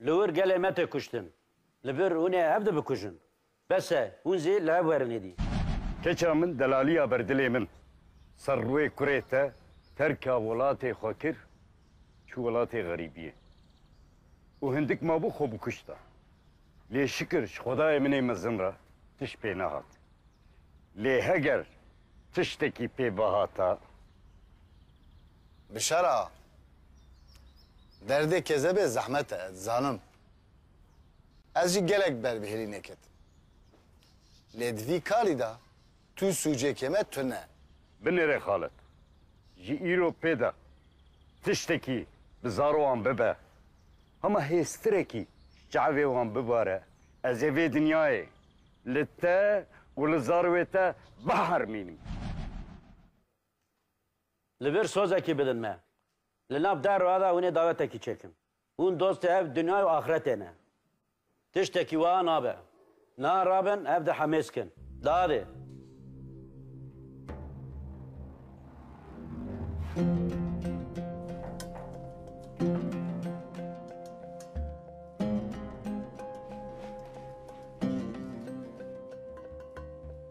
Li wir gelê me tê kuştin. Li vir hûn ê hev dibikujin. Bes e, hûn zî li hev werin êdî. Keça min delaliya ber dilê min ser rûyê kurê te terka welatê xwe kir, çû welatê xerîbiyê û hindik mabû xwe bikuşta. Lê şikir ji xwedayê min ê mezin re tişt pê nehat. Lê heger tiştekî pê bihata. Bi şera Derdê kezebê zehmet e, dizanim. Ez jî gelek ber bi hêlî neketim. Lê di vî karî de tu sûcekê me tune. Binêre xalet. Ji îro pê de tiştekî bi zaro wan bibe, hema hêztirekî ji çavê wan bibare, ez ê vê dinyayê li te û li zarwê te bihermînim. Li vir sozekî bidin me. Li nav derra de hûnê dawetekî çêkin. Hûn dostê ev dinyay û axretê ne. Tiştekî wiha nabe. Na rabin ev di hemêz kin. Dadê.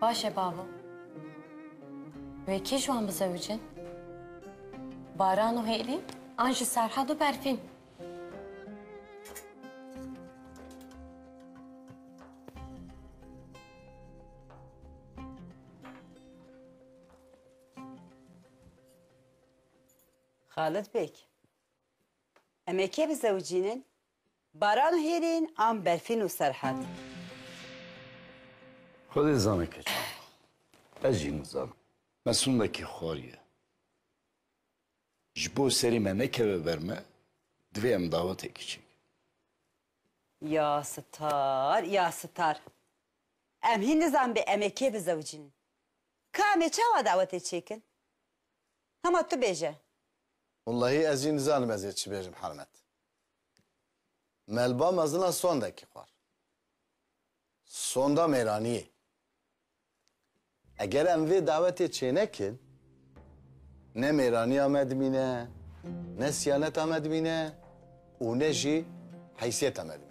Baş e babo. Wê kî ji wan bizewicin? Baran û Hêlî an ji Serhad û Berfîn. Xalid Beg, Em ê kê bizewicînin? Baran û hêrîn an Berfîn û Serhat? Xwe dê zane keçan. Ez jî nizanim. Me sûndekî xwariye. Ji bo serê me nekeve ber me, divê em dawetekî çêkin. Ya sitar, ya sitar. Em hîn nizanibê em ê kê bizewicînin. Ka em ê çawa dawetê çêkin? Hema tu bêje. Wellahî ez jî nizanim ez ê çi bêjim Hermet. Melba mezina sondekî xwar. Sonda mêraniyê. Eger em vê dawetê çênekin ne mêraniya me dimîne ne siyaneta me dimîne. û ne jî heysiyeta me dibîne.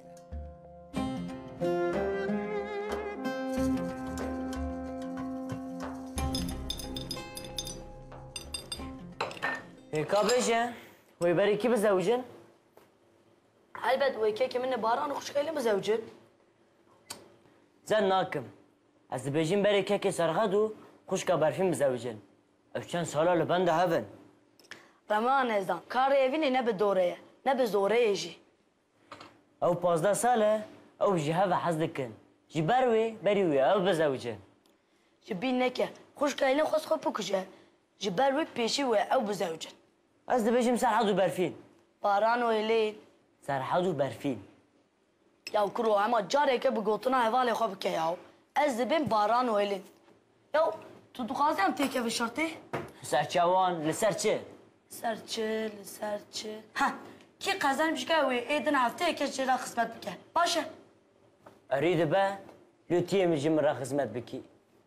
Hêka bêje, wê berê kî bizewicin? Helbet wê kekê min e Baran û xwişkê li bizewicin. Zen nakim. Ez dibêjim berê kekê Serxed û xwişka Berfîn bizewicin. Ev çend sal e li benda hev in. Rema Nezdan, Karê evînê ne bi dorê ye, ne bi zoreyê jî. Ew pazdeh sal e, ew ji hev ve hez dikin. Ji ber wê berî wî ye, ew bizewicin. Ji bîr neke, xwişka Elîn xwest xwe bikuje. Ji ber wî pêşî wê ye, ew bizewicin. Ez dibêjim Serhad û Berfîn. Baran û Elîn. Serhad û Berfîn. Yaw kuro hema careke bi gotina hevalê xwe bike yaw. Ez dibim Baran û Elin. Yaw tu dixwazî em têkevin şertê? Li ser çawan, li ser çi? Li ser çi, li ser çi? Heh, kî qezenî bişka wê ê din hefteyeke jê re xizmet bike. Baş e. Erî dibe, lûtiyê min ji min re xizmet bikî.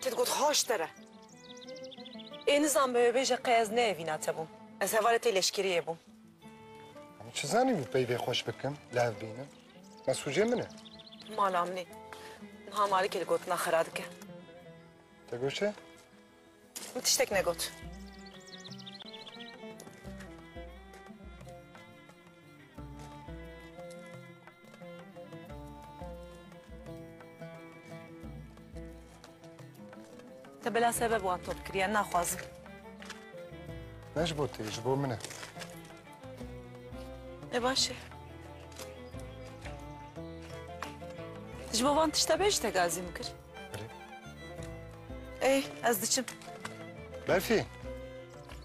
Te digot haş te re. Ê nizan be wê bêje qey ez neevîna te bûm. Ez hevalê tê leşkeriyê bûm. Em çi zanîbû peyvê xweş bikim, li hev bînim. Mesûcê min e. Mala min e. Niha Malikê li gotina xera dike. Te got çi? Min tiştek negot. Te bela sebeb wan top kiriye, naxwazim. Ne ji bo te, ji bo min e. E baş e. Ji bo van tişte bê ji te gazî min kir. Ey ez diçim. Berfî,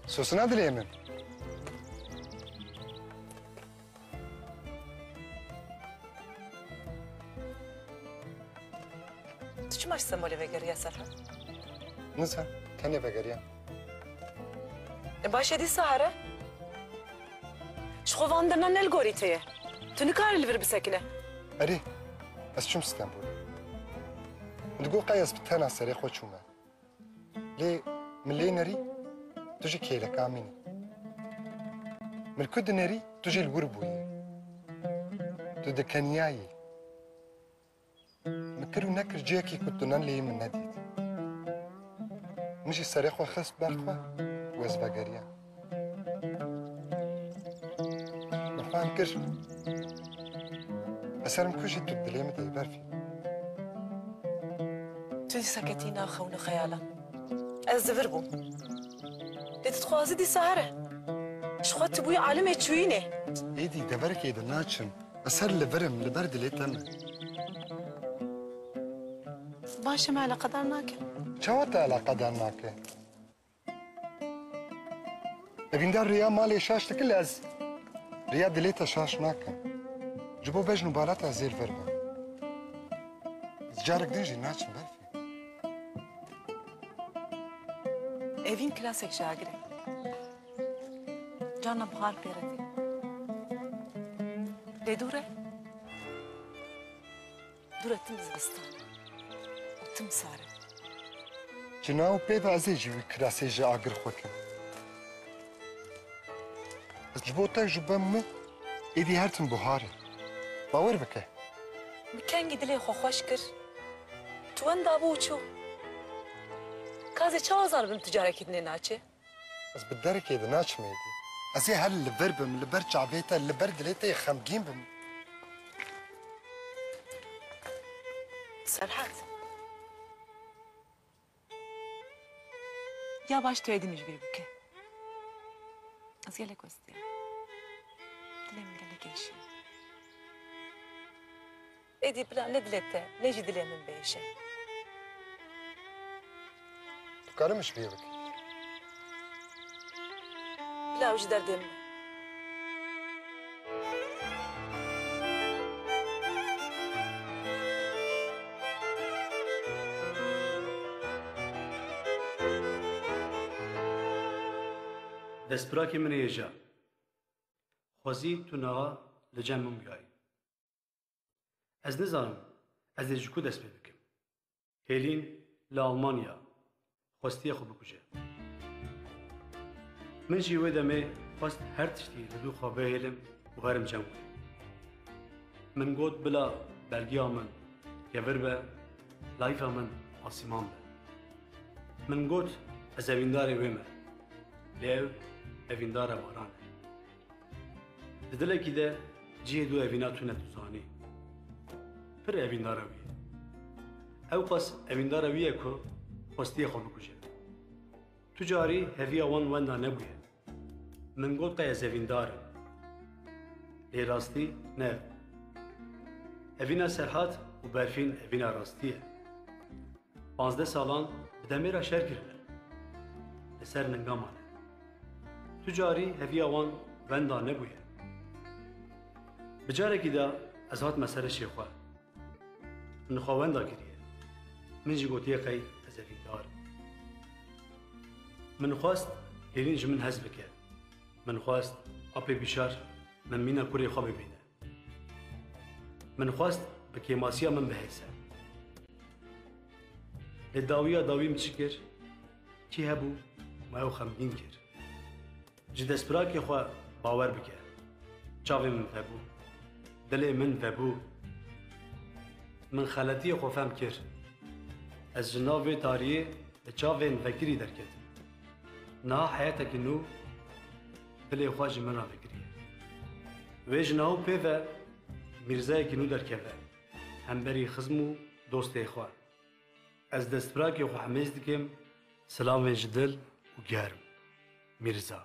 sosina dilê min. Tu çima ji Semolê vegeriya Serhat? Nizan, tenê vegeriya. E baş e dîsa here. Ji xwe van dirna ne li gorî te ye. Tu nikarî li vir bisekine. Erê, ez çûm Stenbolê. Min digot qey ez bi tena serê xwe çûme. Lê min lê nerî, tu jî kêleka min î. Min li ku dinerî tu jî li wir bûyî. Tu dikeniyayî. Min kir û nekir cihekî ku tu ne lê min nedît. Min jî serê xwe xist ber xwe û ez vegeriyam. Min fam kir li ser min kujî tu dilê min de yî berfî. Tu dîsa ketî nav xewin û xeyalan. Ez di vir bûm. Lê tu dixwazî dîsa here. Ji xwe tu bûyî alimê çûyînê. Êdî deverkê de naçim. Ez her li vir im, li ber dilê te me. Baş e me eleqedar nake. Çawa te eleqedar nake? Evîndar rêya malê şaş dike lê ez rêya dilê te şaş nakim. Ji bo bejn û bala te ez ê li vir bim. Ez carek din jî naçim ber. Evîn kilasek ji agir e. Carna bihar pê re tê. Lê dû re, dû re tim zivistan e û tim sar e. Cina û pê ve ez ê ji wî kirasê jî agir xwe kim. Ez ji bo te ji ben me êdî her tim bihar e. Bawer bike. Min kengî dilê xwe xweş kir, ji wen dabû û çû. Ka zê çawa zanibim tu carekî din ê naçê? Ez bi derekê de naçim êdî. Ez ê her li vir bim, li ber çavê te, li ber dilê te yê xemgîn bim. Serhat. Ya baş tu êdî min ji bîr bike. Ez gelek westiyam. Dilê min gelek êşiya. Êdî bila ne dilê te ne jî dilê min bêje. Dikarim min ji bîr bikim. Bila ew ji derdê min e. Destpirakê min ê ja. Xwezî tu niha li cem min bûyayî. Ez nizanim ez ê ji ku dest pê bikim. Hêlîn li Almanya xwestiye xwe bikuje. Min jî wê demê xwest her tiştî li dû xwe bihêlim û herim cem bikim. Min got bila belgiya min kevir be, layîfa min asîman be. Min got ez evîndarê wê me. Lê ew evîndara baran e. Di dilekî de cihê du evîna tune dizanî. Pir evîndara wî ye. Ew qas evîndara wî ye ku xwestiye xwe bikuje. Tu carî heviya wan wenda nebûye. Min got qe ez evîndar im. Lê rastî ne ev bû. Evîna Serhat û Berfîn evîna rastî ye. Pazdeh salan bi demêra şer kirine. Li ser ninga mane. Tu carî heviya wan wenda nebûye. Bi carekî de ez hatime ser işê xwe. Min xwe wenda kiriye. Min jî gotiye qey ez evîndar im. Min xwest hêrîn ji min hez bike. Min xwest apê bîşar min mîna kurê xwe bibîne. Min xwest bi kêmasiya min bihêse. Lê dawiya dawî min çi kir? Kî hebû ma ew xemgîn kir. Ji destpirakê xwe bawer bike. Çavên min vebû. Dilê min vebû. Min xeletiyê xwe fem kir. Ez ji nav vê tariyê bi çavên vekirî derketim. Niha heyetekî nû Dilê xwe ji min re fikiriye. Wê ji nav pê ve mîrzeyekî nû derkeve, hemberî xizm û dostê xwe. Ez destfirakê xwe hemêz dikim, silavên ji dil û germ. Mîrza.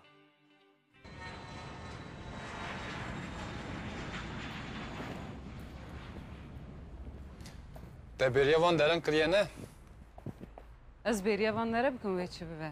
Te bêriya van deran kiriye ne? Ez bêriya van dere bikim wê çi bibe.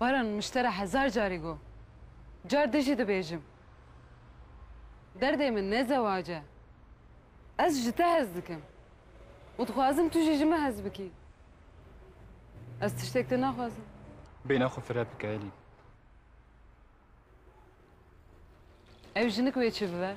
Baran min ji te re hezar carî got. Car din jî dibêjim. Derdê min ne zewac e. Ez ji te hez dikim û dixwazim tu jî ji min hez bikî. Ez tiştek te naxwazim. Bêhna xwe fireh bike Elîn. Ew jinik wê çi bibe?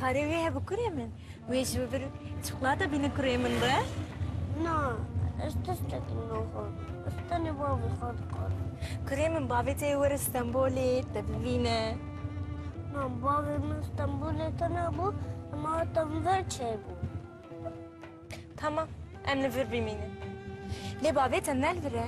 Karê wê hebû kurê min. Wê ji vir çikolata bîne kurê min re. Na, ez tiştekî naxwim. Ez tenê bavê xwe dikarim. Kurê min bavê te ê were Stenbolê te bibîne. Na, bavê min Stenbolê te nebû, em hatin vir çêbû. Tamam, em li vir bimînin. Lê bavê te ne li vir e.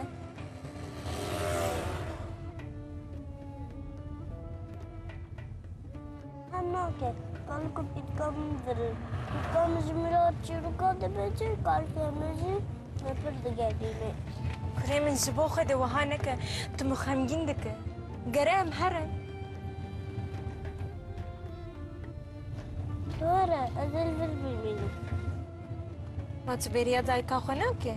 Hemnake, kalku pitkam vir. Pitkam ji Mirat çîroka dibêje, kalkê min jî me pir digerîne. Kurê min ji bo xwe de wiha neke, tu min xemgîn dike. Gere em herin. Were ez ê li vir bimînim. Ma tu bêriya dayika xwe nakî?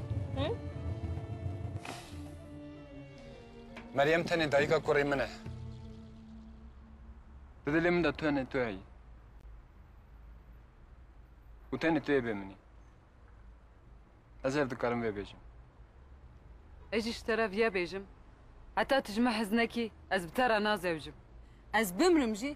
Meryem tenê dayika kurê min e. Di dilê min de tenê tu heyî. Û tenê tu yê bê min î. Ez hev dikarim vê bêjim. Ez jî ji te re vîya bêjim. Heta tu ji min hez nekî ez bi te re nazewicim. Ez bimrim jî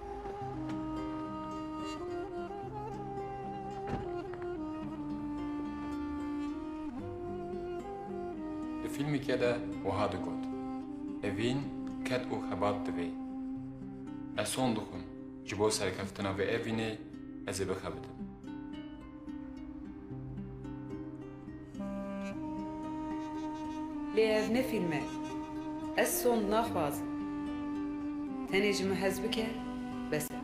Di fîlmekê de wiha digot, Evîn ket û xebat divê. Ez son dixwim, ji bo serkeftina vê evînê ez ê bixebitim. Lê ev ne fîlm e. Ez sond naxwazim. Tenê ji min hez bike, bes e.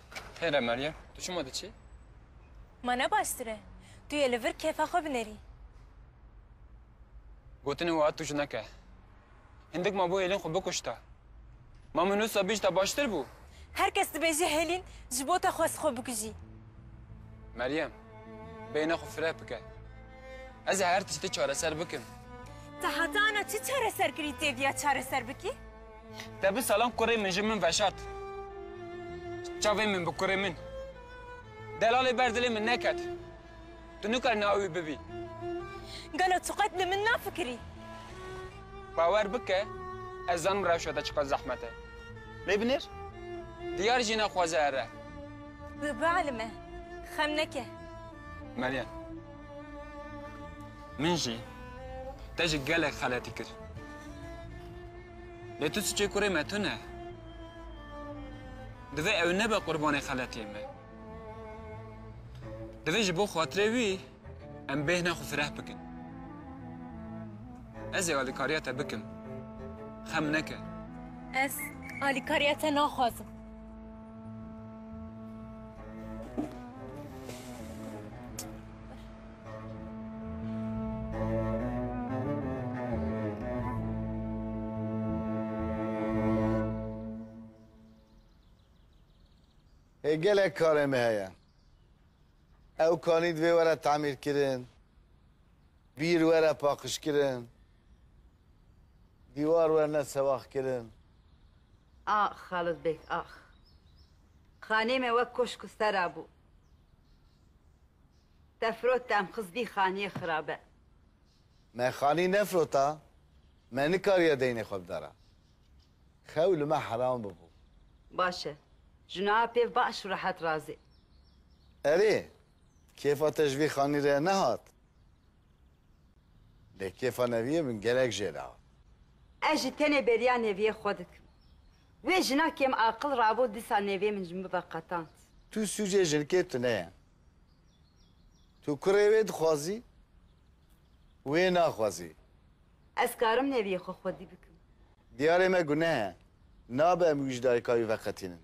Xêr e Meryem, tu çima diçî? Ma ne baştir e? Tu yê li vir kêfa xwe binerî. Gotinên wiha tûj neke. Hindik ma bo hêlin xwe bikuşta. Ma min wisa bîjta baştir bû. Her kes dibêje hêlin ji bo te xwest xwe bikujî. Meryem, beyna xwe fireh bike. Ez ê her tiştê çareser bikim. Te heta ana çi çareser kirî têviya çareser bikî? Te bi salan kurê min ji min veşart. Çavên min bi kurê min. Delalê ber dilê min neket. Tu nikar navê wî bibî. Gelo tu qet li min nafikirî? Bawer bike ez zanim rewşa te çiqas zehmet e. Lê binêr? Diyar jî naxwaze ere. Bi bielime. Xem neke. Meryem. Min jî te ji gelek xeletî kir. Lê tu suçê kurê me tune ye. Divê ew nebe qurbanê xeletiyên me. Divê ji bo xatirê wî em bêhna xwe fireh bikin. Ez ê alîkariya te bikim. Xem neke. Ez alîkariya te naxwazim. Hê gelek karê me heye. Ew kanî divê were tamîrkirin, bîr were paqijkirin, dîwar werne sewaxkirin. Ax Xalis beg ax. Xanê me wek koşk û sera bû. Te firot dem xizbî xaniyê xirabe. Me xanî nefirota, me nikariye deynê xwe bidara. Xew li me heram bibû. Baş e. Ji niha pêv baş û rehet razê. Erê, kêfa te ji vî xanî re nehat. Lê kêfa Neviyê min gelek jê re hat. Ez jî tenê beriya Neviyê xwe dikim. Wê jina kêmaqil rabo dîsa Neviyê min ji min bibe qetand. Tu sûcê jinkê tune ye. Tu kurê wê dixwazî, wê naxwazî. Ez karim neviyê xwe xwedî bikim. Diyarê me guneh e. Nabe em wij dayika wî veqetînin.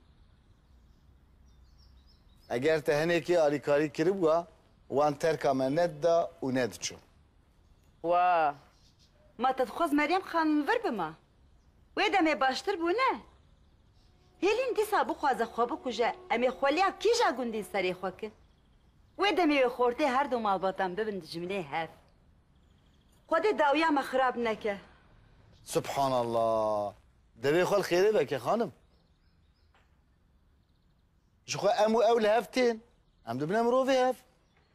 Eger te hinekê alîkarî kiribûa, wan terka me nedida û nediçûn. Wa! Ma te dixwaz Meryem xan li vir bima? Wê demê baştir bû ne? Hêlîn dîsa bixwaze xwe bikuje em ê xweliya kîja gundîn serê xwe kin? Wê demê wê xortê her du malbatan bibin dijminê hev. Xwedê dawiya me xirab neke. Subhanallah! Devê xwe li xêrê veke xanim. Ji xwe em û ew li hev tên. Em dibine mirovê hev.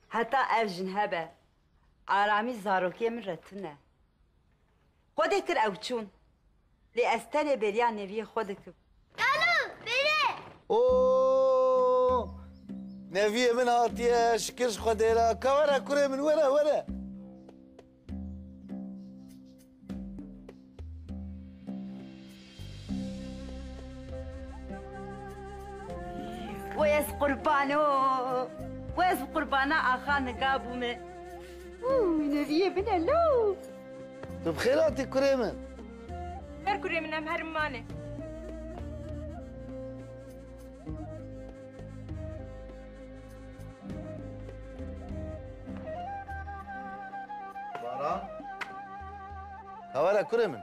Heta ev jin hebe, aramî zarokiyê min re tune. Xwe dê kir ew çûn. Lê ez tenê bêriya Neviyê xwe dikim. Kalo! Bêre! O! Neviyê min hatiye, şikir ji Xwedê re. Ka were kurê min, were, were. Wes qurban o, wes bi qurbana axa nika bû min. Û neviyê min e lo. Tu bi xêr hatî kurê min. Her kurê min em herim mane. Baran. Hawere kurê min.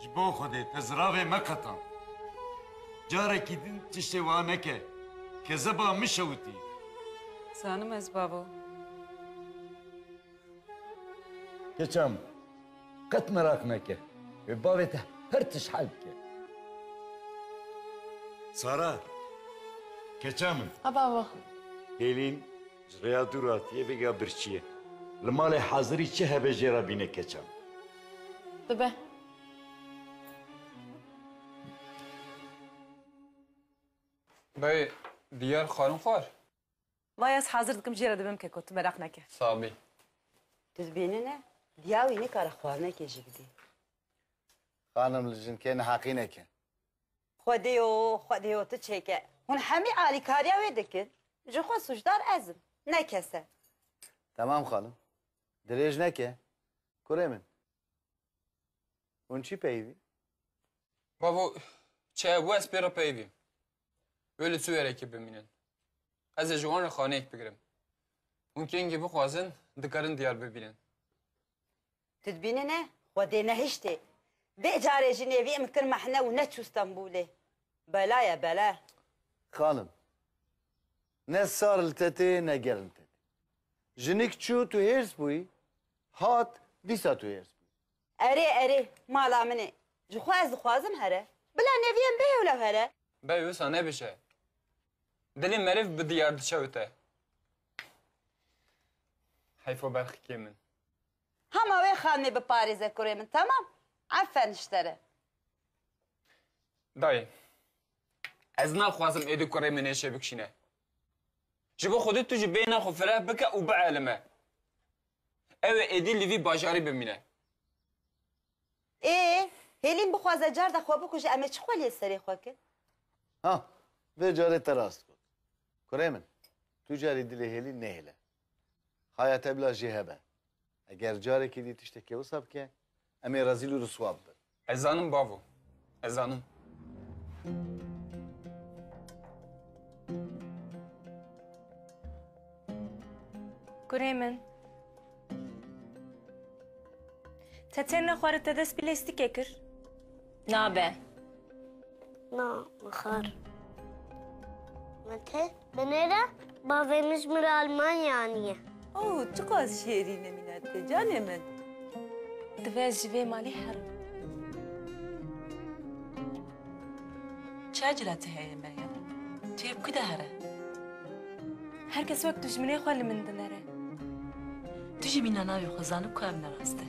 Ji bo Xwedê te ziravê meqetan. Carekî din tiştê wiha neke, kezeba min şewitî. Zanim ez babo. Keça min, qet merak neke. Wê bavê te her tişt hel bike. Sara, keça min. A babo. Hêlîn. Ji rêya dû re hatiye vêga birçîye. Li malê hazirî çi hebe jê re bîne keçan. Dibe. Beyê diyar xwarin xwar? Baya ez hazir dikim jê re dibim keko tu meraq neke. Sabî. Tu dibêne ne diya wî nikare xwarinekê jî bidê. Xanim li jinkê neheqîneke. Xwedêyo, xwedêyo tu çêke. Hûn hemî alîkariya wê dikin. Ji xwe sûcdar ez im, ne kes e. Temam xanim. Dirêj neke. Kurê min. Hûn çî peyivî? Bavo, çi hebû ez pê re peyivî im. Wê li Sûyerekê bimînin. Ez ê ji wan re xaneyek bigirim. Hûn kengî bixwazin dikarin diyar bibînin. Tu dibînî ne xwe dê nehiştê. Dê carê jî nê vî em kir mehne û neçû Stenbûlê. Bela ye bela. Xanim, ne sar li te tê ne germ li te tê. Jinik çû tu hêrs bûyî, hat dîsa tu hêrs bûyî. Erê erê, mala min e. Ji xwe ez dixwazim here. Bila nê vî em bê hewlew here. Bey wisa nebije. Dilê meriv bi diyar diçewite. Heyfo berxikê min. Hema wê xanimê biparêze kurê min temam. Efen ji te re. Dayê, ez naxwazim êdî kurê min ê çêbikşîne. Ji bo xwedî tu jî bêhna xwe fireh bike û bielime. Ew ê êdî li vî bajarî bimîne. Ê, Hêlîn bixwaze carda xwe bikuje em ê çi xwe li yê serê xwe kin? Ha, vê carê te rast got. Kurê min, tu carî dilê Hêlîn nehêle. Xaya te bila jê hebe. Eger carekê dî tiştekê wisa bike, em ê rezîl û riswa bibin. Ez zanim bavo. Ez zanim. Kurê min. Te têne xwarin te dest bi lêstikê kir. Nabe. Na, mixar. Mete, binêre bavê min ji min re Almanya aniye. Oh, çiqas şêrîn e mînetke canê min. Divê ez ji vê malê herim. Çiya cireti heye Meryem? Tu yê bi ku de here? Her kes wek dijminê xwe li min dinere. Tu jî mîna navê xwe zanib ku ev ne rast e.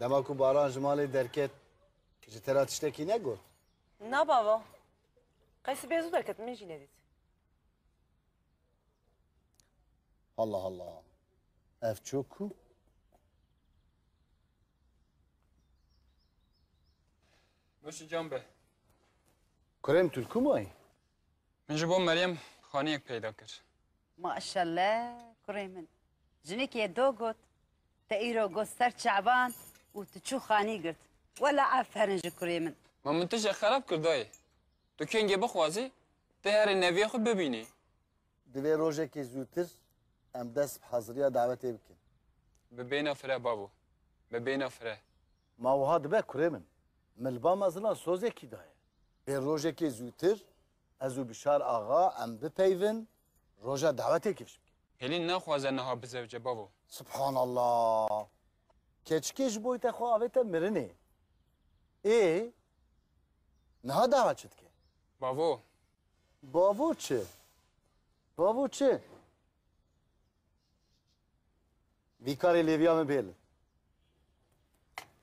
Dema ku Baran ji malê derket ji te re tiştekî negot? Na bava. Qey sibê zû derket min jî nedît. Halla halla. Ev çok ku. Muşi can be. Kurem Türk'ü mü ay? Min ji bo Meryem xaniyek peyda kir. Maşelle kurê min. Jinekê do got, Te îro got ser çavan û tu çû xanî girt. Wela aferin ji kurê min. Ma min tije xerab kir dayê. Tu kengê bixwazî tê herê neviyê xwe bibînî. Divê rojekê zûtir em dest bi heziriya dawetê bikin. Bi bêhna fire babo. Bi bêhna fire. Ma wiha dibe kurê min. Milba me zilan sozekî daye. Bê rojekê zûtir Ez û Bişar axa em bipeyvin roja dawetê kêş bike. Hêlîn naxwaze niha bizewce bavo. Subhanallah! Keçikê ji boy te xwe avête mirinê. Ê niha dawa çi dike? Bavo! Bavo çi? Bavo çi? Vî karê lêviya min bêli.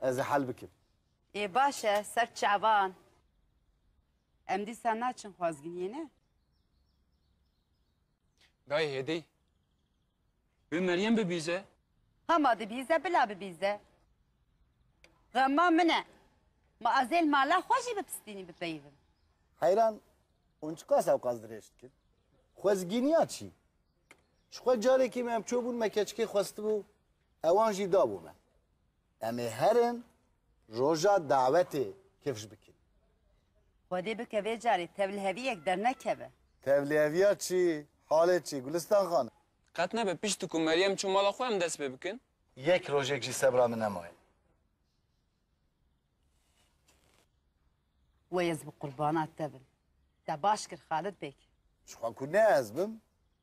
Ez ê hel bikim. Ê baş e, ser çavan. Em dîsa naçin xwazgiriyê ne. Gayê hêdî. Bi Meryem bibîze. Hema dibîze bila bibîze. Xema min e. Ma ez ê li mala xwe jî bi pistînî bipeyivim. Heyran, hûn çiqas ewqas dirêj dikin? Xwezgîniya çi? Ji xwe carekê me em çûbûn me keçikê xwestibû, hewan jî dabû me. Em ê herin roja dawetê kifş bikin. Xwedê bike vê carê tevliheviyek dernekeve. Tevliheviya çi? Halê çi? Gulistan xanim. Qet nebe pişt ku Meryem çû mala xwe em dest pê bikin. Yek rojek jî sebra min nemaye. Wey ez bi qurbana te bim. Te baş kir Xalid bêg. Jixwe ku ne ez bim.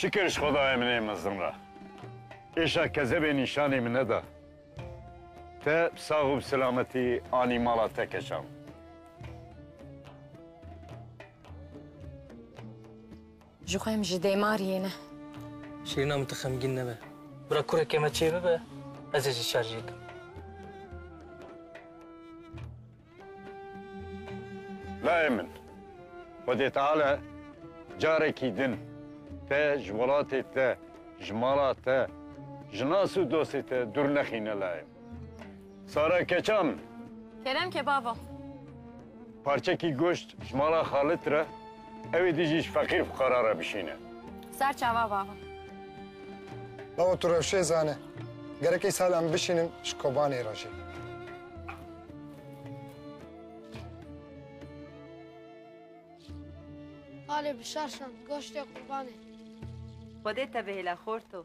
Şükür ji Xwedayê min ê mezin re. Êşa kezebê nîşanî min neda. Te bi sax û bi selametî anî mala te keşan. Ji xwe em ji dêmariyê ne. Şirîna min tu xemgîn nebe. Bira kureke me çê bibe ez ê ji şer jê kim. Layê min Xwedê Teala carekî din te ji welatê te, ji mala te, ji nas û dostê te dûr nexîne layê min. Sara keçan. Kerem kebaba. Parçekî goşt ji mala xalit re ewê dijî ji feqîr fuqara re bişîne. Ser çava baba. Baba tu rewşê zane. Gerek îsal em bişînin ji Kobanê re jî. Alê bişer şand goştê qurbanê. Xwedê te bihêle xorto.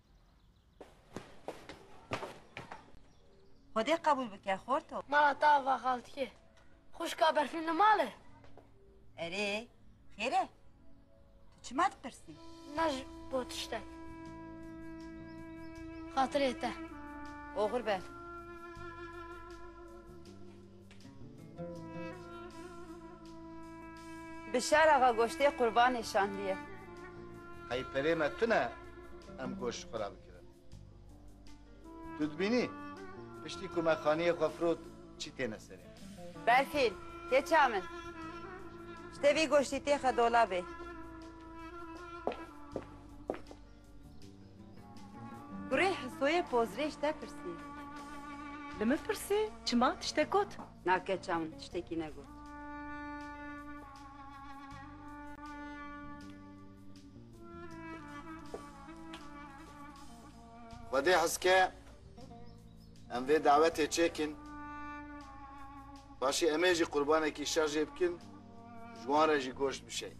Xwedê qebûl bike xorto. Ma ta ava xaltikê. Xwişka berfîn li mal e? Erê, xêr e. Tu çima dipirsî? Ne ji bo tiştek. Xatirê te. Oxir be. Bişar axa goştê qurbanê şandîye. Qey perê me tune em goşt ji xwe re bikirin. Tu dibînî piştî ku me xaniyê xwe firot çî têne serê me. Berfîn, keça min. Ji te vî goştî têxe dolabê. Kurê Hisoyê pozrê ji te pirsî. Li min pirsî çima tiştek got? Na keça min tiştekî negot. Xwedê hizke em vê dawetê çêkin. Paşê em ê jî qurbanekî şer jê bikin, ji wan re jî goşt bişeyin.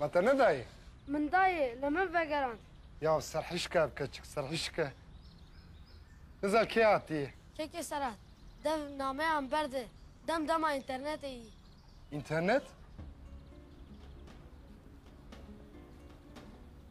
Me te nedayê? Min dayê, li min vegerand. Ya serhişka ev keçik, serhişka. Niza kê hatiyê? Keke Serhat, dev nameyan berde, dem dema înternetê yî. Înternet?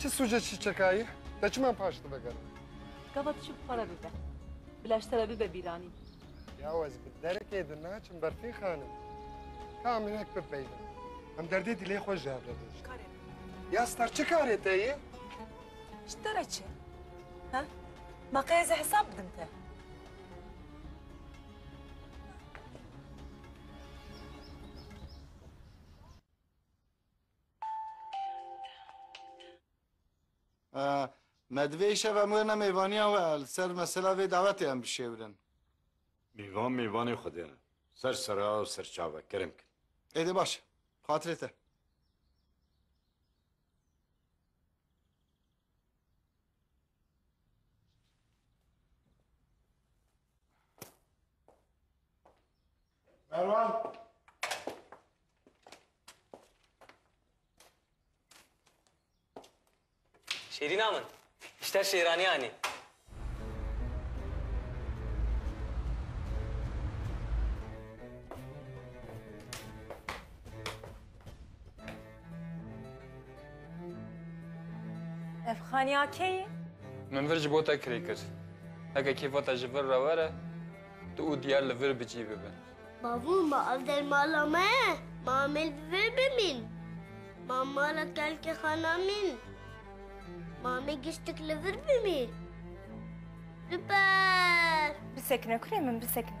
Çi sûce çîçekayî? Te çima em paş dibe gelo? Gava tu çi bi xwe re bibe? Bi leş te re bibe bîranîn. Yaw ez bi derekê di naçim berfî xanim. Ka em hinek bipeybin. Em derdê dilê xwe ji hev re dojin. Karê. Ya star çi karê te ye? Ji te re çi? Ha? Ma qey ez ê hesab bidim te. Me divê îşev em wêrine mêvaniya we li ser mesela vê dawetê em bişêwirin. Mêvan mêvanê Xwedê ne. Ser sera û ser çave kerem kin. Ê dê baş e. Xatirê te. Merwan! Şêrîna min, îşter şêranî anî. Ev xaniya kê ye? Min vir ji bo te kirê kir. Heke kêfa te ji vir re were, tu û diyar li vir bicî bibin. Bavû, ma ev der mala me ye. Ma amêl bi vir bimîn. Ma mala telkê xwe namîn. Ma amê giştik li vir bimî. Super! Bisekine kurê min, bisekine.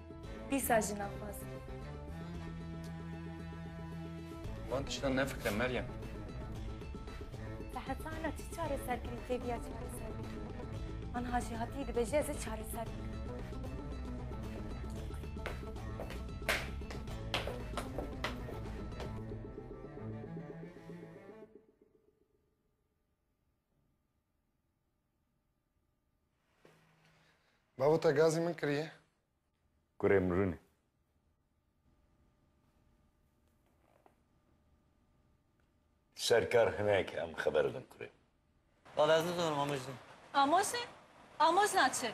Dîsa jina xwazin. Wan tiştan nefikre Meryem. Te hetana çi çareser kirî têbiya çareser bikî. An hajî hatî dibêje ez ê çareser bikim. Bavo te gazî min kiriye. Kurê min rûnê. Serkar hineke em xeber din kurê. Bavê ez nizanim amêjî. Amosê? Amos na çi?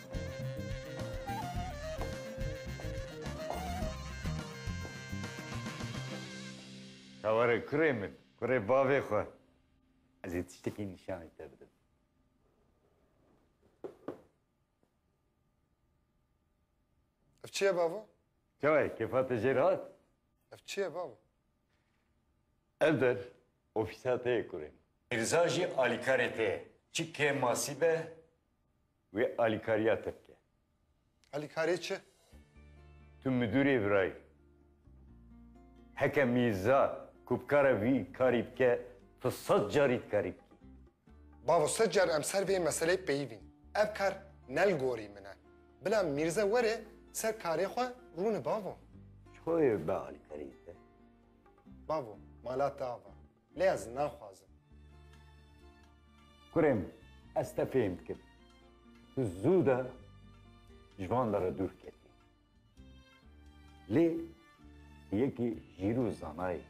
Te were kurê min, kurê bavê xwe. Ez ê tiştekî nîşanî te bidim. Ev çi ye bavo? Çawa ye? Kêfa te jêr hat? Ev çi ye bavo? Ev der ofîsa te ye kurê min. Mirza jî alîkarê te ye. Çi kêm masî be Wê alîkariya te bike. Alîkariyê çi? Tu midûrê virayî. Heke Mîrza ku bi kare vî karî bike, tu sed carî dikarî bikî. Bavo sed car em ser vê meseleyê peyivîn. Ev kar ne li gorî min e. Bila Mîrza were ser karê xwe rûne bavo. Çi xwe wê bibe alîkariyê te? Bavo, mala te ava. Lê ez naxwazim. Kurê min, ez te fêm dikim. Tu zû de ji van de re dûr ketî. Lê tu yekî jîr û zana yî.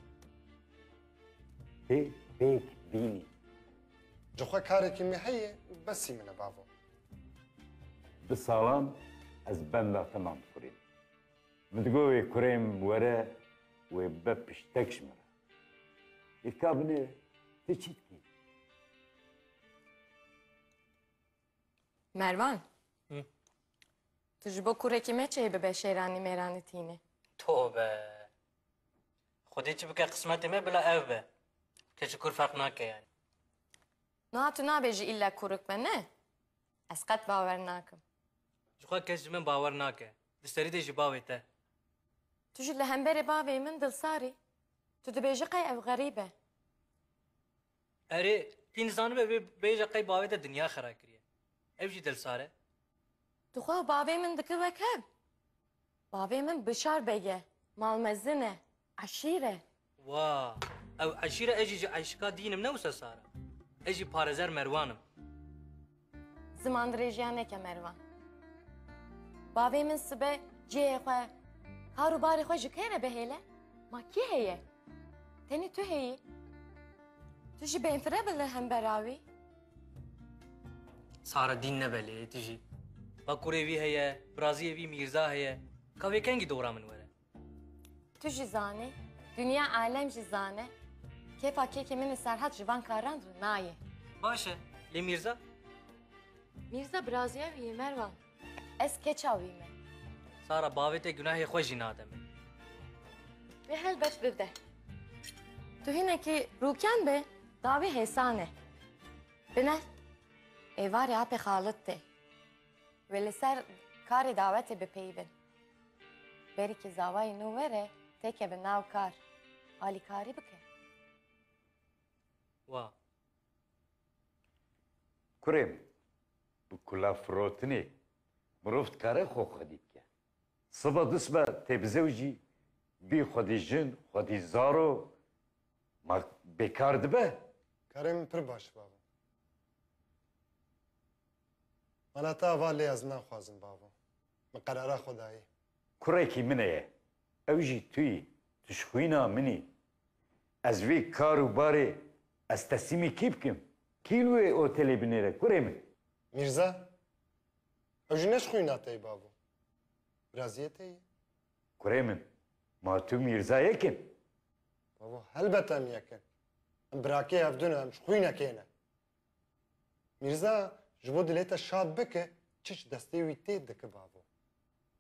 Tê pêk bînî. Ji xwe karekî me heye û besî min e bavo. Bi salan ez benda te mam dikurîm. Min digot wê kurê min were wê bibe piştek ji min re. Îlka binê tu çi dikî? Mervan. Hı. Tu ji bo kurekî me çê bibe şêranî mêranî tîne. Tobe. Xwedê çi bike qismetê me bila ev be. Keçi kur ferq nake yani. Niha tu nabêjî îlla kurik be ne? Ez qet bawer nakim. Jixwe kes ji min bawer nake. Di serî de ji bavê te. Tu jî li hemberê bavê min dilsar î. Tu dibêjî qey ev xerîb e. Erê, tî nizanibe vê bêje qey bavê te dinya xera kiriye. Ew jî dilsar e. Tuxwa bavê min dike wek hev. Bavê min Bişar beg e. Mal mezin e. Eşîr e. Wa! Ew eşîr e, ez jî ji eşika dîn im ne wisa sar e. Ez jî Parezer Merwan im. Ziman dirêjîya neke Merwan. Bavê min sibe cihê xwe, kar û barê xwe ji kê re bihêle? Ma kî heye? Tenê tu heyî. Tu jî bêfire bi li hember a wî. Sara dîn ne belê tu jî. Ba kurê vî heye, biraziyê vî Mîrza heye. Ka vê kengî dora min were. Tu jî zanî, dinya alem jî zane kêfa kêkê min ê Serhat ji van karan re nayê. Baş e, lê Mîrza? Mîrza biraziya wî yê Merwan. Ez keça wî me. Sara bavê te gunahê xwe jî nade min. Wê helbet bibe. Tu hinekî rûken be dawî hêsan e. Bine êvarê apê Xalit tê. Wê li ser karê dawetê bipeyivin. Berîkî zawayê nû were têkevin nav kar. Alîkarî bike. Wa. Kurê min. Bi kulafirotinê mirov dikare xwe xwedî bike. Siba du siba tê bizewicî bî xwedî jin, xwedî zaro ma bêkar dibe? Karê min pir baş bavo. Mala te ava lê ez naxwazim bavo. Min qerara xwe dayî. Kurekî min eye. Ew jî tu yî. Tu ji xwîna min î. Ez vê kar û barê ez teslîmê kî bikim? Kî li wê otelê binêre kurê min? Mîrza, Ew jî ne ji xwîna te ye bavo. Biraziyê te ye. Kurê min, ma tu Mîrza yek in? Bavo, helbet em yek in. Em birakê hev du ne, em ji xwînekê ne. Mîrza, Ji bo dilê te şad bike, çiç destê wî tê dike bavo.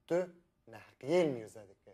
Tu neheqiyê li Mîrza dike.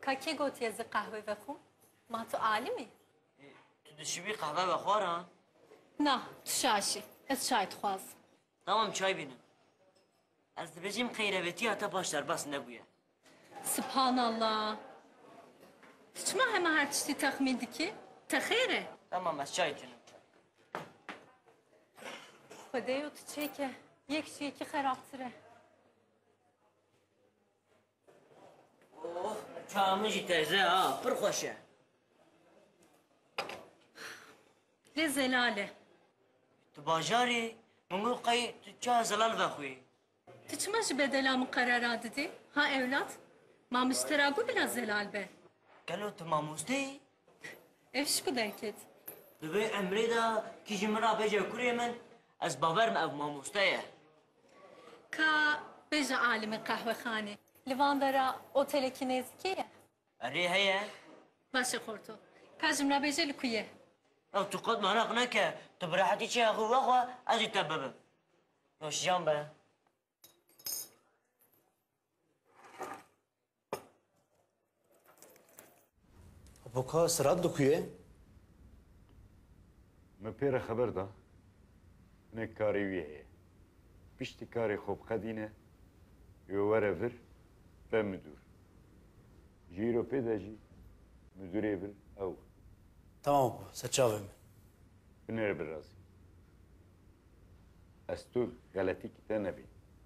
Ka kê got ye zî qehwe vexwim? Ma tu alim î? Tu dişibî qehwe vexwaran? Na, tu şaşî. Ez çay dixwazim. Tamam çay bînin. Ez dibêjim qeyrevetiya te baş derbas nebûye. Subhanallah. Tu çima hema her tiştî texmîn dikî? Te xêr e? Tamam ez çay tînim. Xwedeyo tu çêke. Yek ji yekî xerabtir e. Çawa min jî teze ha, pir xweş e. Lê zelal e. Tu bajarî, min got qey tu çawa zelal vexwî. Tu çima ji bedela min qerara didî? Ha ewlad? Ma min ji te ra got bila zelal be. Gelo tu mamoste yî? Ev ji ku derket? Di vê emrê de kî ji min ra bece kurê min, ez bawer me ev mamoste ye. Ka bêje alimi qehwexanê. Li van de re otelekî nêzîkê ye? Erê heye. Baş e xorto. Ka ji min re bêje li ku ye? Ya tu qet meraq neke. Tu bi rehetî çêya xwe vexwe ez jî te bibim. Nûşjan be. Boka sirat li ku ye? Me pê re xeber da hinek karê wî heye. Piştî karê xwe biqedîne û were vir be midûr. Ji îro pê de jî midûrê vir ew e. Tamam bû serçavê min. Binêre birazî. Ez tu xeletî kite nebê.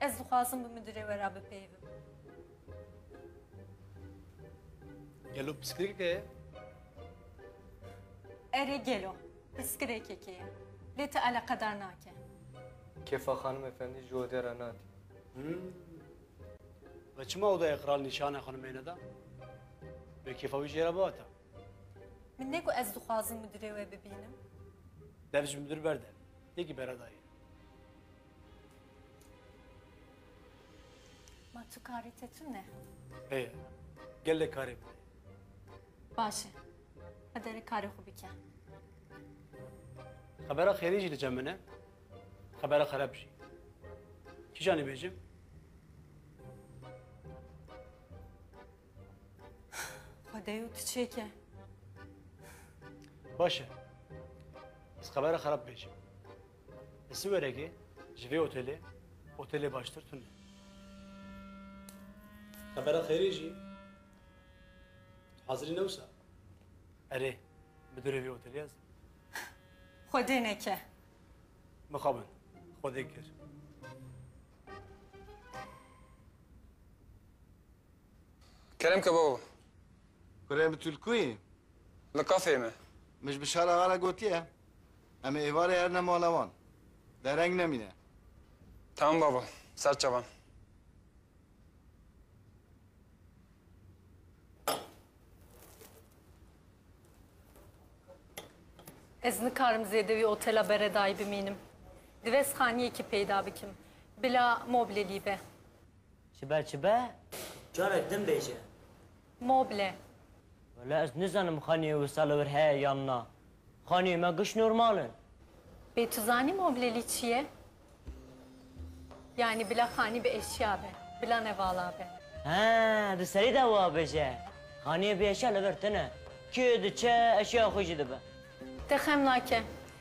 Ez dixwazim bi midirê we re bipeyivim. Gelo piskirêkeke ye? Erê gelo, piskirêkeke ye. Lê ti eleqedar nake. Kefa xanim efendî ji odê re natî. Ve çima odaya kral nîşane xanimê neda? Bê kêfa wî jê re biata. Min ne ku ez dixwazim mudirê we bibînim. Dev ji mudir berde. Yekî bera dayê. Ma tu karê te tune? Heye. Gelek karê min heye. Baş e. Qedere karê xwe bike. Xebera xêrî jî diçe min e. Xebera xerab jî. Kîjanî bêjim? Xwedeyo tu çêke. Baş e. Ez xebera xerab bêjim. Li Siwerekê ji vê otelê, otelê baştir tune. Xebera xêrê jî tu hazirî ne wisa. Erê, midurê vê otelê ez im. Xwedê neke. Mixabin, xwedê kir. Kerem ke baba. Kurê min tu li ku yî? Li kafeyê me. Min ji Bişar axa re gotiye em ê êvarê erne mala wan. Dereng nemîne. Tamam baba. Ser çavan. Ez nikarim zêde wî otela beredayî bimînim. Divê sixaniyekî peyda bikim. Bila moble lî be. Çibe çibe? Carek din bêje. Moble. Wele ez nizanim xaniyê wisa li wir heye yan na. Xaniyê me giş normal in. Bê tu zanî moblelî çi ye? Yanî bila xanî bi eşya be. Bila ne vala be. He, di serî de wa bêje. Xaniyê bi eşya li vir tune. Kê diçe eşyaya xwe jî dibe. Te xem nake.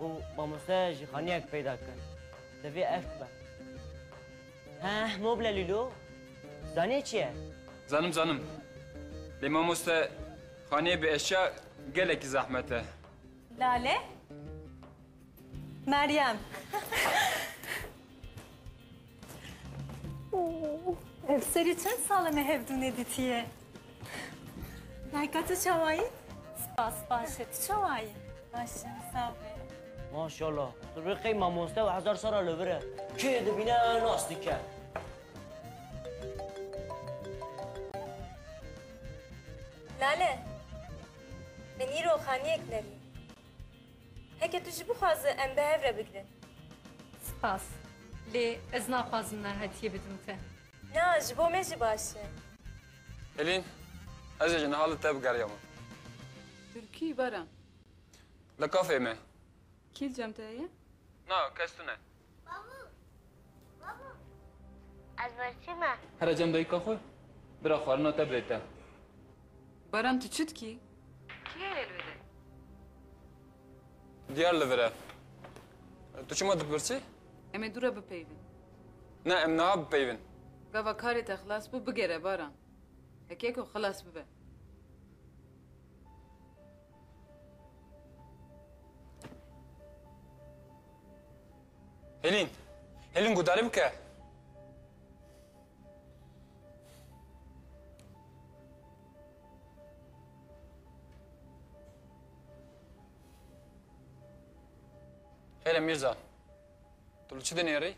û mamosteya jîxaniyek peyda kir. Divê ev bibe. Heh, mobile lîlo. Zanî çi ye? Zanim zanim. Lê mamoste xaneyê bi eşya gelekî zehmet e. Lale. Meryem. Ev serî çend sal e me hevdû nedîtiye. Dayka tu çawa yî? Spas baş e, tu çawa yî? Baş im, sağ be. Maşallah. Tu rê qey mamoste û hezar sala li vir e. Kê dibîne nas dike. Lale, min îro xaniyek nerî. Heke tu jî bixwaze em bi hev re bigirin. Spas. Lê ez naxwazim me hetiyê bidim te. Na, ji bo me jî baş e. Elîn, ez ê ji niha li te bigeriya min. Tu kî, Baran? Li kafeyê me. Kî li cem te heye? Na, kes tune. Ez berçî me. Here cem dayika xwe bira xwarina te bidê te. Baran tu çi dikî? Kî heye li vire? Diyar li vire. Tu çima dipirsî? Em ê dû re bipeyivin. Ne em niha bipeyivin. Gava karê te xilas bû bigere Baran. Heke ku xilas bibe. Hêlîn! Hêlîn guhdarî bike! Hêle Mîrza, tu li çi dinêrî?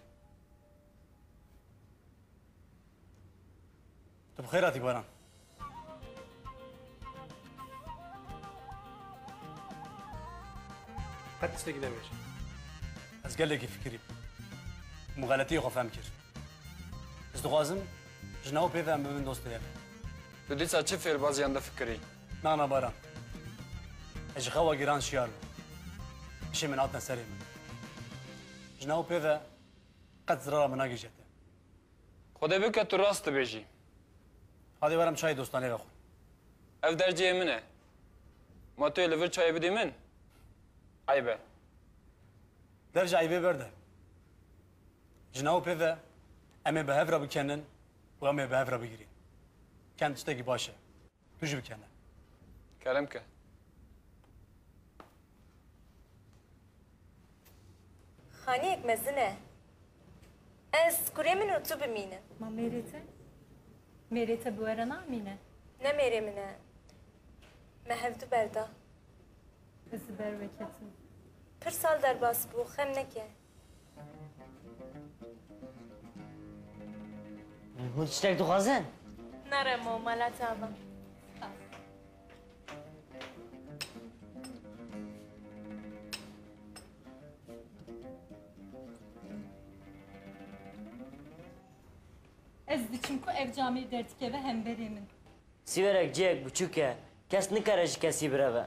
Tu bi xêr hatî Baran. Qet tiştekî nebêj. Ez gelekî fikirî bûm. Min xeletiyê xwe fehm kir. Ez dixwazim jina û pêve em bi min dost bêjin. Tu dîsa çi fêrbaziyan de fikirî? Na na Baran. Ez ji xewa giran şiyar bûm. Hişê min hatine serê min. Jina û pêve qet zirara min nagihîje te. Xwedê bike tu rast dibêjî. Hadê were em çayê dostanê vexwin. Ev derceyê min e. Ma tu yê li vir çayê bidî min? Eyb e. Derc eybê berde. Ji nav pêve em ê bi hev re bikenin û em ê bi hev re bigirîn. Kend tiştekî baş e. Tu jî bikene. Kerem ke. Xaniyek mezin e. Ez kurê min û tu bimînin. Ma mêrê te? Mêrê te bi we re namîne. Ne mêrê min e. Me hevdu berda. Ez li ber we ketim. Pir sal derbas bû, xem neke. Hûn tiştek dixwazin? Nere mo mala te ava. Ez diçim ku ev camê derdikeve hemberê min. Sîverek cihek biçûk e. Kes nikare ji kesî bireve.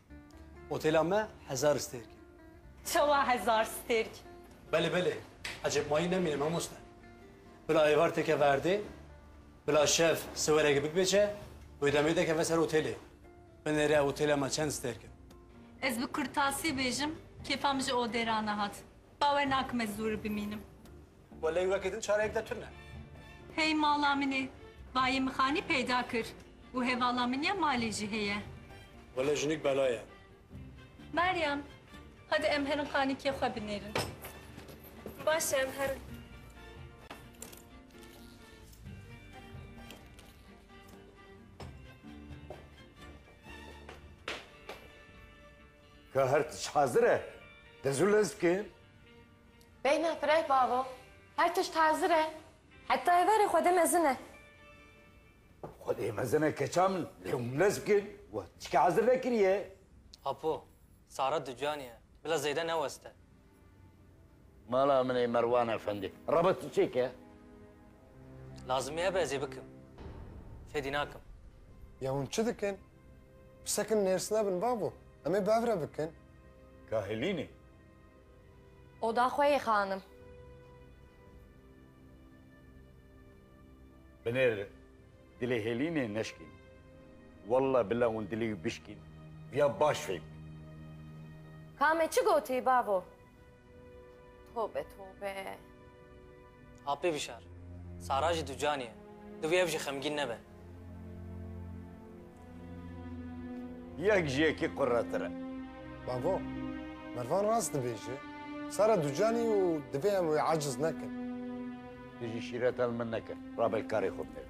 Otêla me hezar stêrk e. Çawa hezar stêrk? Belê belê, ecêb mayî nemîne mamoste. Bila êvar têkeve erdê, bila şev siwereke bikbêje û ê demê dekeve ser otêlê. Binêre otêla me çend stêrk in. Ez bi kurtasî bêjim, kêfa min ji odê ra nehat. Bawer nakim ez zû ri bimînim. Welay weke din çareyek de tune. Hey mala min e. Bayê mixanî peyda kir û hevala min ya malê jî heye. Wele jinik bela ye. Meryem, hadi em herin xanîkê xwe binêrin. Baş e em herin. Ka her tişt hazir e. Dezûlez bikin. Beyna fireh bavo, her tişt hazir e. Heta êvarê xwedê mezin e. Xwedê mezin e keça min, lê hûn bila zikin we tiştî hazir nekiriye. Apo, Sara ducaniye, bila zêde neweste. Mala min ê Merwan efendî. Reba tu çêke ye? Lazimî hebe ez ê bikim. Fêdî nakim. Ya hûn çi dikin? Bi sekinên hêrs nebin bavo. Em ê bi hev re bikin. Kahilînê. Oda xwe yê xanim. Binêr dilê Hêlînê neşkîn. Wallah billah hûn dilê wî bişkîn. Viya baş fêhm bî. Kame çi gotî bavo? Tobe tobe. Apê Vişar, Sara jî ducanî ye. Divê ev jî xemgîn nebe. Yek ji yekî quretir e. Bavo, Mervan rast dibêje. Sara ducanî ye û divê em wê aciz nekin. Tu jî şîreta li min nekir. Rabe karê xwe binêr.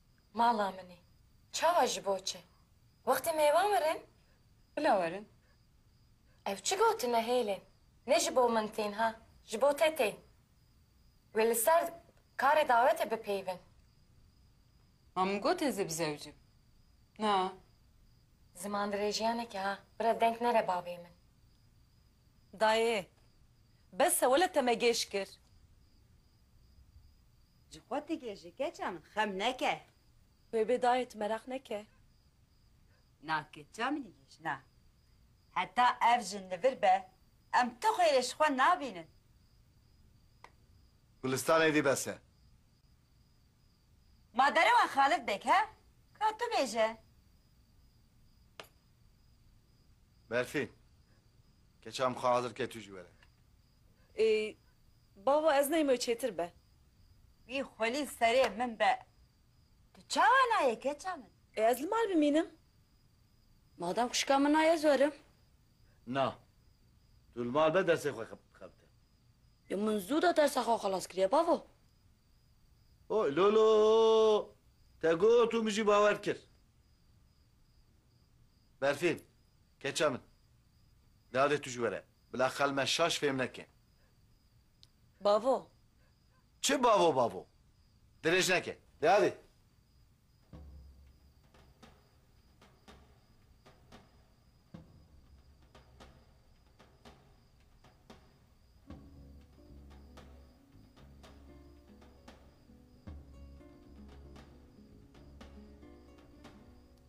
Mala min e. Çawa ji bo çi? Wextê mêvan werin? Bila werin. Ev çi gotine hêlên? Ne ji bo min tên ha, ji bo te tên. Wê li ser karê dawetê bipeyivin. Ma min got ez ê bi zewicim. Na. Zimandirêjiyaneke ha, bira denk nere bavê min. Dayê. Bes e wele te me gêj kir. Ji xwe tigê ji keça min xem neke. Wê bê dayê tu meraq neke. Na keça min î jina. Heta ev jin li vir be em tu xêrê ji xwe nabînin. Gulîstan êdî bes e. Ma derewa Xalid bêk he? Ka tu bêje. Berfîn, keça min xwe hazir ke tu jî were. Ey bava ez neyme çêtir be. Wî xwelî serê min be. Tu çawa nayê keça min? Ê ez li mal bimînim? Madem xwişka min na ez werim. Na. Tu li mal be dersê xwe xebite. Yo min zû de dersa xwe xelas kiriye bavo. Ho lolo te got û min jî bawer kir. Berfîn keça min. Nalê tu ji we re. Bila xel me şaş fêm neke. Bavo. Çi bavo bavo? Dirêj neke. De hadi.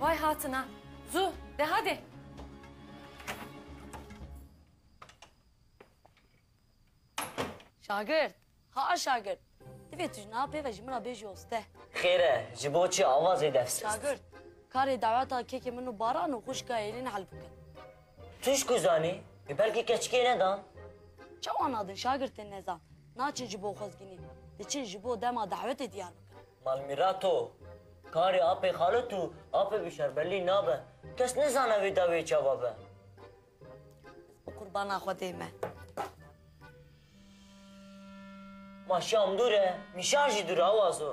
Vay hatina. Zu, de hadi. Şagirt, ha şagirt. Divê tu ji niha pê ve ji min re bêjî oste. Xêr e, ji bo çi avazê defs? Şagirt, karê daweta kekê min û Baran û xwişka Êlîn hel bikin. Tu ji ku zanî? Ê belkî keçikê nedan. Çawa nadin şagirtên nezan? Naçin ji bo xwezgînî, diçin ji bo dema dawetê diyar bikin. Malmîrato, karê apê xalit û apê bi şerbelî nabe. Kes nizane wê dawiyê çawa be. Bi qurbana Xwedê me. Ma şam dûr e, nîşan jî dûr e awazo.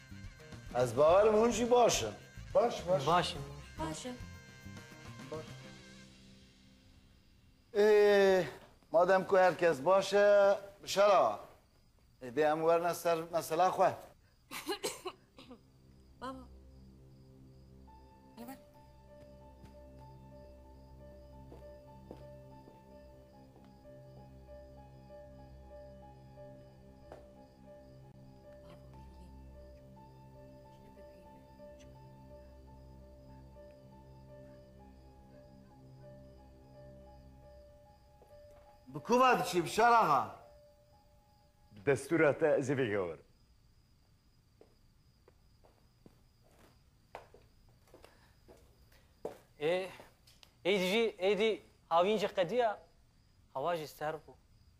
Ez bawer im hûn jî baş in. Baş baş. Baş im. Baş im. Êê, madem ku her kes baş e, Bişar axa, êdî em werne ser mesela xwe. Baba. Bi ku ve diçî Bişar axa? Bi destûra te ez ê vêgewerim. Ê êdî jî êdî havîn jî qediya hewa jî serr bû.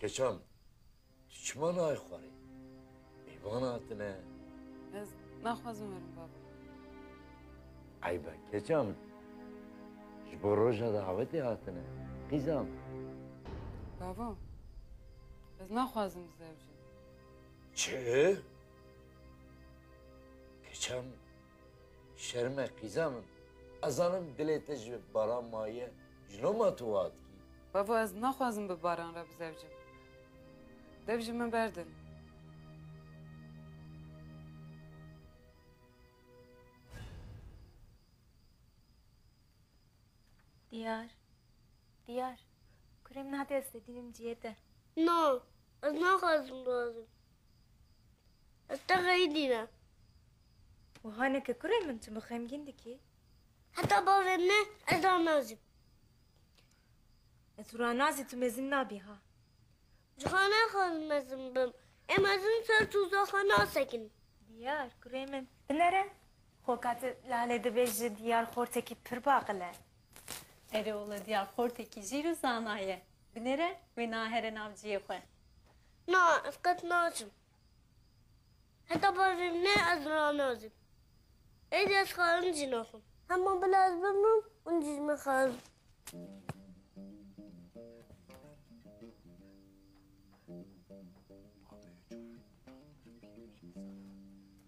Keçan, tu çima nayê xwarê? Mêvan hatine. Ez naxwazim werim baba. Eybe keçan, ji bo roja davetê hatine. Qîzan. Baba, ez naxwazim bizewicim. Çi? Keçan, Şerm e qîza min. Ez zanim dilê te ji baran maye, ji no ma tu wiha dikî? Bavo ez naxwazim bi baran re bizewicim. Dev ji min berdin. Diyar, Diyar, kurê min hate ez fedînim ciyê te. Na, ez naxwazim biazim. Ez te xeyî dînim. Wiha neke kurê min, tu min xemgîn dikî. Heta bavê min e ez ranazim. Ez ranazî tu mezin nabî ha. Cuha naxwazim mezin bim. Em mezin ser tûzaxa nasekin. Diyar kurê min binere. Xo ka tu lale dibê ji Diyar xortekî pir baqil e. Erê wele Diyar xortekî jîr û zana ye. Binere wê nahere nav ciyê xwe. Na ez qet naçim. Heta bajêr ne ez ranazim. Êdî ez xwarin jî naxwim. Hema bila ez bimrim hûn jî ji min xwarin.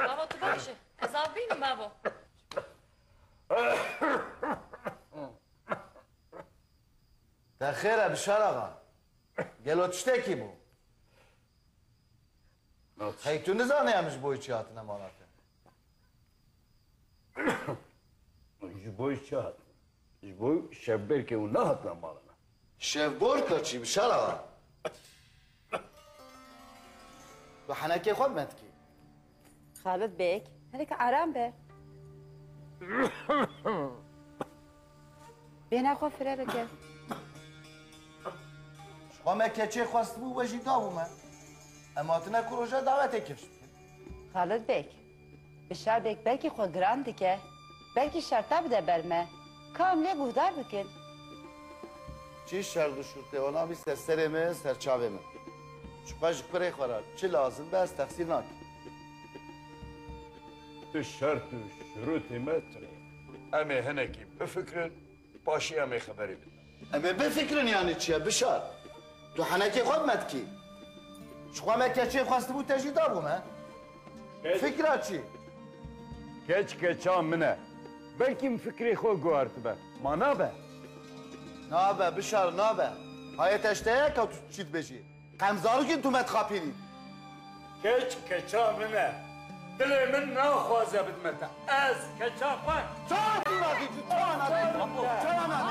Babo tu baş î? Ez av bînim babo. Te xêr e Bişar axa. Gelo tiştekî bû. Hey tu nizane em ji bo çi hatine mala te. Ji bo çi hat? Ji bo şevberkê û nehatine mala me. Şêf Borka çî bi şer a. Bi henekê xwe me dikî. Xalid Beg, hinek aram be. Bêhna xwe fire bike. Xwe me keçê xwestibû we jî dabû me. Em hatine ku roja davetê kir. Xalid Beg. Bi şerdek belkî xwe giran dike, belkî şerta bide ber me. Ka em lê guhdar bikin. Çi şerd û şûrtê wana bî ser serê me, ser çavê me. Çiqas ji kurê xwe re çi lazim be ez texsîr nakim. Ti şerd û şûrtê me tune ye. Em ê hinekî bifikirin Di paşê em ê xeberê bidin. Em ê bifikirin yanî çi ye Bişar? Tu henekê xwe bi me dikî? Ji xwe me keçê xwestibû te jî dabû me. Fikra çi? Keç keça min e. Belkî min fikirê xwe guhertibe. Ma nabe? Nabe Bişar nabe. Hayê te ji te ye ka tu çi dibêjî. Qem zarokên tu me dixapînîn. Keç keça min e. Dilê min naxwaze bidime te. Ez keça xwe. Çawa tu nadî? Tu çawa nadî? Çawa nadî?